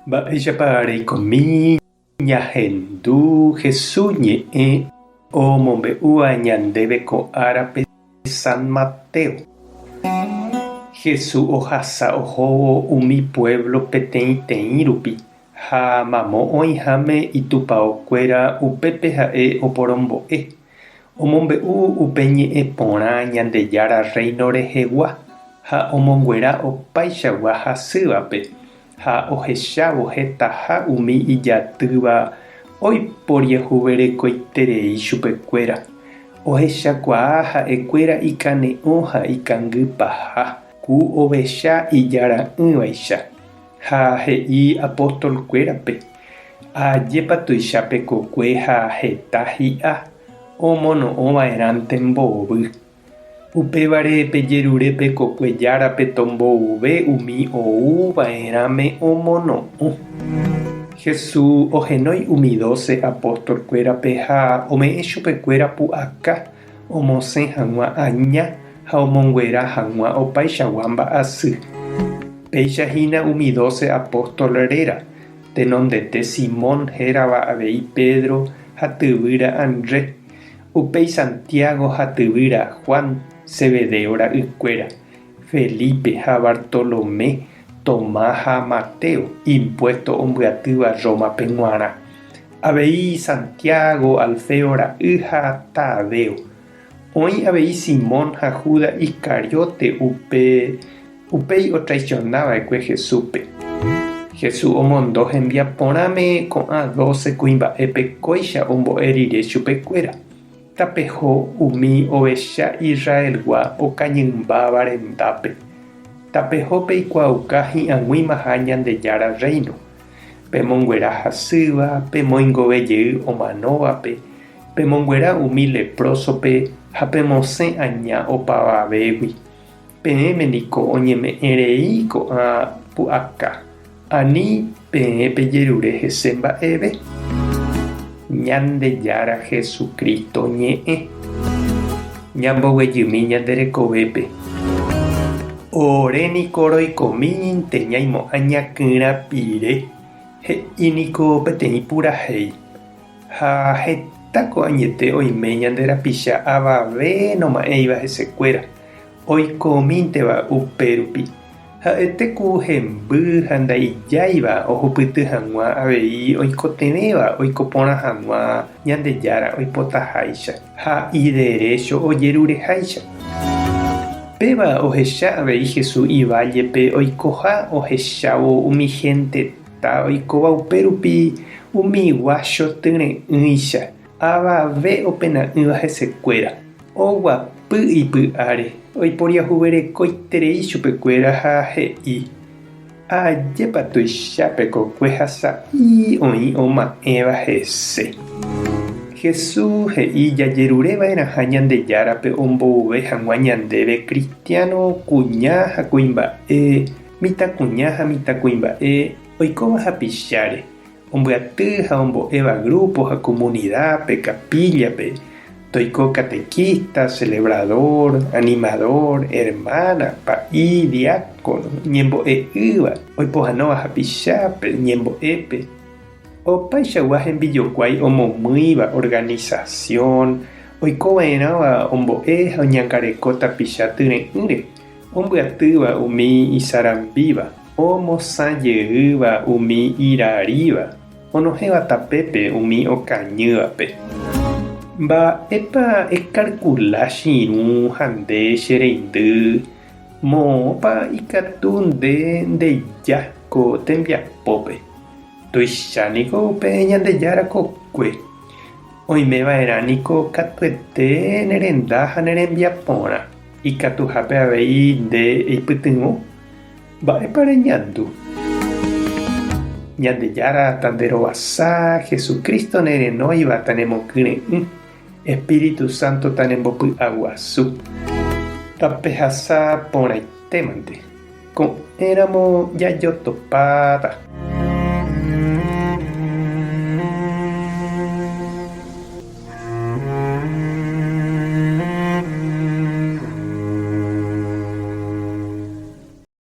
Mba'éichapa reikomi ñahendu Hesu ñe'ẽ omombe'úva ñandéve ko árape San Mateo? Hesu ohasa ohóvo umi puévlo peteĩteĩ rupi ha mamo oĩháme Itupao kuéra upépe ha'e oporombo'e. Omombe'u upe ñe'ẽ porã Ñandejára Rréino rehegua ha omonguera opaichagua hasývape, ha ohechávo hetaha umi ijatýva oiporiahuverekoiterei chupekuéra, ohechakuaa ha'ekuéra ikane'õ ha ikangy paha, ku ovecha ijara'ỹvaicha. Ha he'i apóstol kuérape, Ajépa tuicha pe kokue ha heta hi'a omono'õ va'erãnte mbovy. Upévare pejerure pe kokue járape tombouve umi ou va'erãme omono'õ. Jesús ohenói umi doce apóstol kuérape ha ome'ẽ chupekuéra pu'aka. Omosẽ hag̃ua aña ha omonguera hag̃ua opaichagua mba'asy. Péicha hína umi doce apóstol réra, tenondete Simón hérava avei Pedro ha tyvýra Andrés, upéi Santiago ha tyvýra Juan, Zebedeo ra'ykuéra, Felipe ha Bartolomé, Tomás ha Mateo, impuesto ombyatýva Rómape g̃uarã, avei Santiago, Alfeo ra'y ha Tadeo. Oĩ avei Simón ha Judas Iscariote, upe upéi otraisiona va'ekue Jesúspe. Jesús omondo hembiaporãme ko'ã doce kuimba'épe kóicha ombo'e rire chupekuéra. Tapeho umi ovecha Israelgua okañymbáva rendápe. Tapeho peikuaauka hi'ag̃uimaha Ñandejára Rréino, pemonguera hasýva, pemoingove jey omanóvape, pemonguera umi leprósope ha pemosẽ aña opavavégui. Peẽme niko oñeme'ẽ rei ko'ã pu'aka, ani peẽ pejerure hese mba'eve. Ñandejára Jesucristo ñe'ẽ. Ñamboguejymi ñande rekovépe. Ore niko roikomíntente ñaimo'ã ñaky'rã pire, he'i niko peteĩ purahéi. Ha heta ko'añete oime ñande rapicha avave noma'ẽiva hesekuéra, oikomínteva upérupi. Ha'ete ku hemby ha ndaijáiva ohupyty hag̃ua avei oikotevẽva oiko porã hag̃ua Ñandejára oipotaháicha ha iderécho ojerureháicha. Péva ohecha avei Jesús ivállepe oikoha ohechávo umi hénte. Ha oikóva upérupi umi guácho tyre'ỹicha, avave opena'ỹva hesekuéra, oguapy ipy'áre, oiporiahuverekoiterei chupekuéra ha he'i, Ajépa tuicha pe kokue ha sa'i oĩ oma'ẽva hese! Jesús he'i jajerureva'erãha Ñandejárape ombouve hag̃ua ñandéve kristiáno kuña ha kuimba'e Mitãkuña ha mitãkuimba'e oikóva hapicháre, ombyaty ha ombo'éva grúpo ha komunidápe, kapíllape, toiko katekísta, selebradór, animadór, ermána, pa'i, diákono, ñembo'e'ỹva, oipohánova hapichápe, ñembo'épe. Opaichagua hembijokuái omomýiva organisasión oikova'erãva ombo'e ha oñangareko tapicha tyre'ỹre. Ombyatýva umi isarambíva, omosã jeýva umi iraríva, onohẽva tapépe umi okañývape. Mba'épa ekalkula che irũ ha nde che reindy? Moõpa ikatu nde ndeja ko tembiapópe? Tuicha niko upe Ñandejára kokue. Oimeva'erã niko katuete ne renda ha ne rembiaporã. Ikatuhápe avei nde eipytyvõ, mba'épa reñandu? Ñandejára tanderovasa, Jesucristo nerenóiva tanemokyre'ỹ, Espíritu Santo tanembopy'aguasu. Tapehasa porãitémante. Ko'ẽramo jajotopáta.